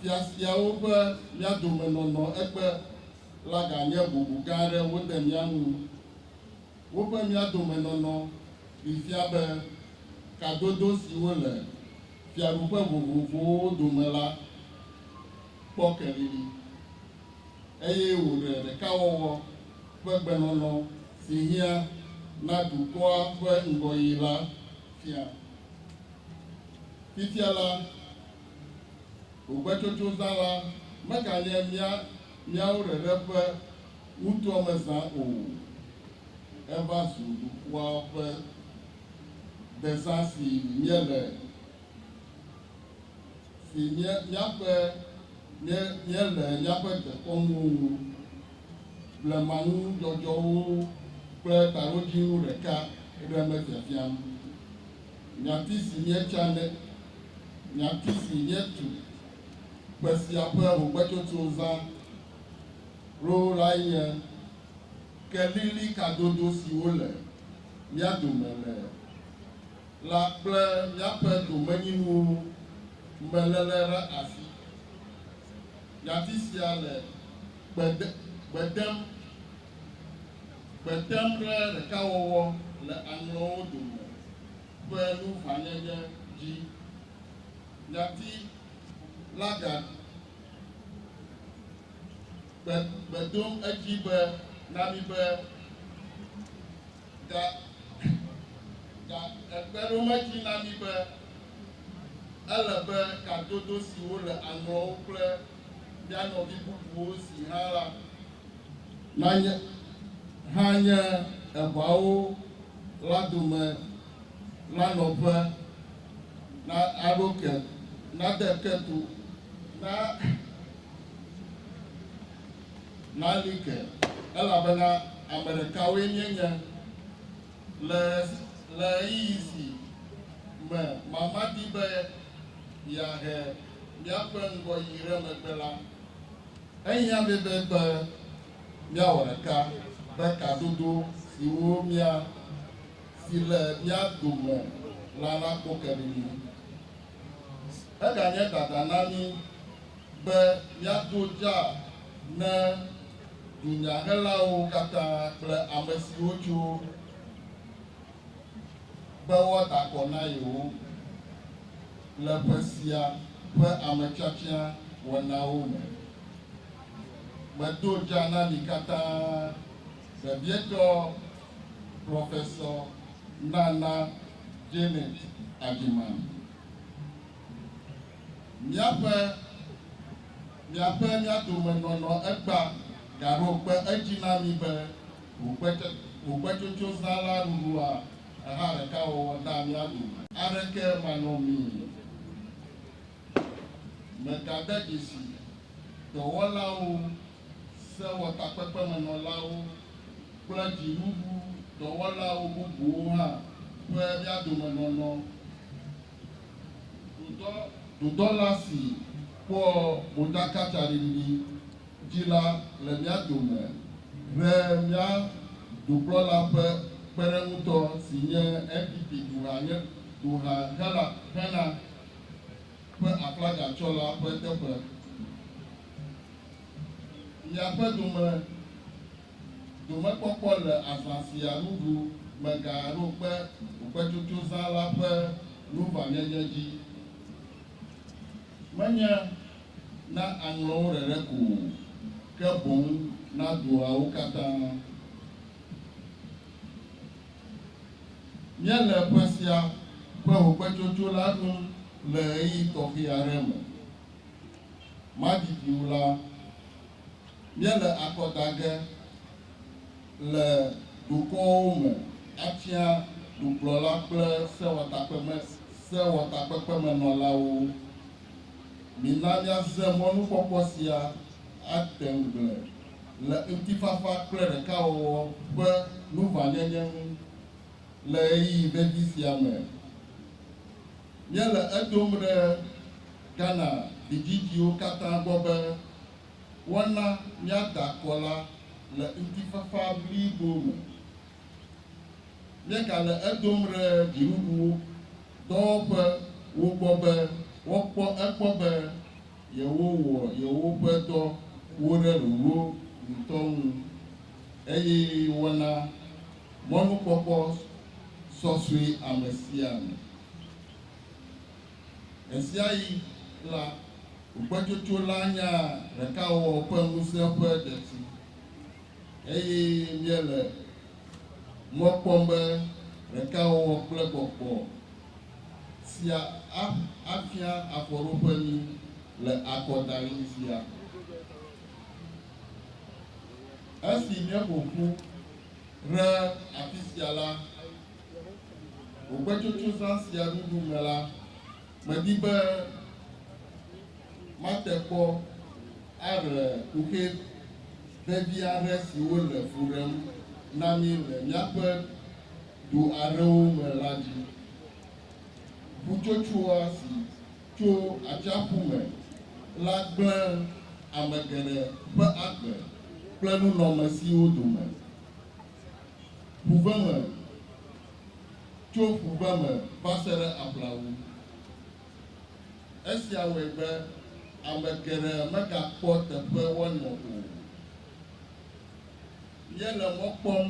Fiafiawo ƒe mía dome nɔnɔ ekpe la ganye bubu gã aɖe wode mía ŋu. Woƒe mía dome nɔnɔ ɖee fia be kadodo siwo le fiaɖuƒe vovovowo dome la kpɔ kelili, eye wòɖe ɖekawɔwɔ ƒe gbenɔnɔ si hiã na dukɔa ƒe ŋgɔyiyi la fia. Fifia la, ŋugbedodoɖala meganye mía míawo ɖeɖe ƒe ŋutuamezã o. Eva zu dukɔa ƒe dezã si míele, si mía míaƒe mí míele míaƒe dekɔnuwo ŋu, blemanudzɔdzɔwo kple taɖodzinu ɖeka ɖem fiafiam. Nyati si míetsa nye nyati si míetu kpe sia ƒe ŋugbetsotsozã ɖo lae nye kelili kadodo siwo le mía dome le la kple míaƒe domenyinuwo me lele ɖe asi. Nyati sia le gbe dem Gbe tem ɖe ɖekawɔwɔ le aŋlɔwo dome ƒe nuʋãnyenye dzi. Nyati la ga gbe gbe dom edzi be na mi be ga ga egbe ɖom edzi na mi be ele be kadodo siwo le aŋlɔwo kple mía nɔvi bubuwo si hã la, nanye hã nye eʋawo la dome la nɔƒe, na aɖo ke, nade ke to, na nali ke, elabena ame ɖekawoe míenye le le ɣeyiɣi si me mama di be yeahe. míaƒe ŋgɔyiyi ɖe megbe la, ehiã mí be be míawɔ ɖeka be kadodo siwo mía si le mía dome la nakpɔ ke ɖe mí ŋu. Eganye dada na mí be míado dza ne dunyahelawo katã kple amesiwo tso. be woada akɔ na yewo le ƒe sia ƒe ametiatia wɔnawo me. Medo dza na mi katã, vevietɔ Prɔfesɔ Nana Janet Adjeman, míaƒe, miaƒe mía dome nɔnɔ egba gaɖo kpe edzi na mi be, Ŋukpetsotsozã la ɖuɖua eha ɖeka wɔwɔ dea mía dome. Aɖeke manɔmee megade dzesi dɔwɔlawo, sewɔtakpekpemenɔlawo, kple dzinuɖu dɔwɔlawo bubuwo hã ƒe mía dome nɔnɔ o. Dudɔla si kpɔa modzakatsaɖiɖi dzi la le mía dome ʋɛ mía dukplɔla ƒe kpeɖeŋutɔ si nye NPP duha Ghana ƒe aflaga tsɔla ƒe teƒe. Miaƒe dome domekpɔkpɔ le azã sia nuɖu megaɖo kpe okpetsotsozã la ƒe nuʋãnyenye dzi. Menye na aŋlɔ wo ɖeɖe ko o, ke boŋ na dua wo katã. Míele ƒe sia ƒe hogbechocho la ɖum le ɣeyiɣi tɔxɛ aɖe me. Madidi wu la, míele akɔ da ge le dukɔwo me atia dukplɔla kple sewɔtakpekpemenɔlawo. Mina míasrɔ̃ mɔnukpɔkpɔ sia ate ŋugble le ŋutifafa kple ɖekawɔwɔ ƒe nuʋãnyenye ŋu le ɣeyiɣi vevi sia me. Míele edom ɖe Ghana vidzidziwo katã gbɔ be woana míada akɔ la le ŋutifafa blibo me. míegale edom ɖe dziɖuɖuwo dɔwɔƒewo gbɔ be woakpɔ egbɔ be yewowɔ yewoƒe dɔwo ɖe ɖoɖo ŋutɔ ŋu eye wona mɔnukpɔkpɔ sɔsɔe amesiame. Ɣesiaɣi la, ʋugbetsotso la nya ɖekawɔwɔ ƒe ŋusẽ ƒe detsi. Eye míele mɔ kpɔm be ɖekawɔwɔ kple gbɔgbɔ sia afia afɔɖoƒe mí le akɔdaɣi sia. Esi míeƒo ƒu ɖe afisia la, gbogboetsotsozã sia ɖuɖu me la, medi be. mate kpɔ aɖe kuxi vevi aɖe siwo le fu ɖem na mí le míaƒe du aɖewo me la dzi. Ƒutsotsoa si tso atsiaƒu me la gblẽ ame geɖe ƒe agbe kple nunɔamesiwo dome. Ƒuveme, tso ƒuveme va se ɖe aƒlawu. Esia wɔe be ame geɖe megakpɔ teƒe woanɔ o. Míele mɔ kpɔm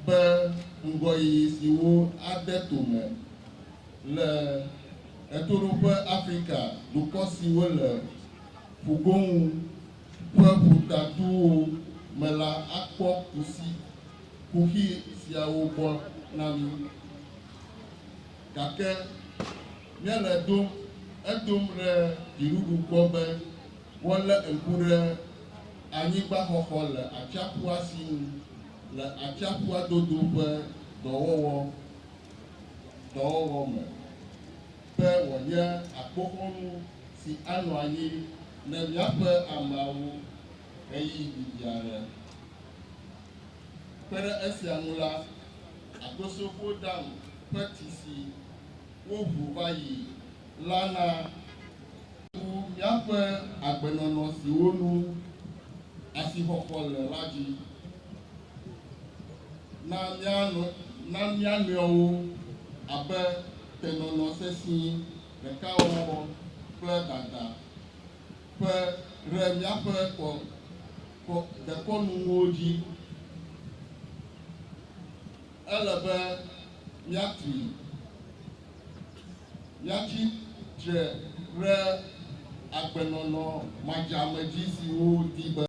be ŋgɔyiyi siwo ade to me le Ɣetoɖoƒe Afrika dukɔ siwo le ƒugoŋu ƒe ƒutatuwo me la akpɔ kusi kuxi siawo gbɔ na mí. Gake. Nye le dom edom ɖe dziɖuɖu gbɔ be woalé ŋku ɖe anyigbaxɔxɔ le atsiaƒua si ŋu le atsiaƒua dodo ƒe dɔwɔwɔ dɔwɔwɔ me be wòanye akpoxɔnu si anɔ anyi ne míaƒe ameawo ɣeyiɣi didi aɖe. Kpe ɖe esia ŋu la, Akosofo Dam ƒe tisi woʋu va yi la na ŋu míaƒe agbenɔnɔ siwo nu asixɔxɔ le la dzi. Na míanɔ na mía nɔewo abe tenɔnɔ sesĩ ɖekawɔwɔ kple dada ƒe ɖe míaƒe kɔ, kɔ, dekɔnunuwo dzi. Ele be míatui, míatsi tre ɖe agbenɔnɔ madzamedzi siwo di be.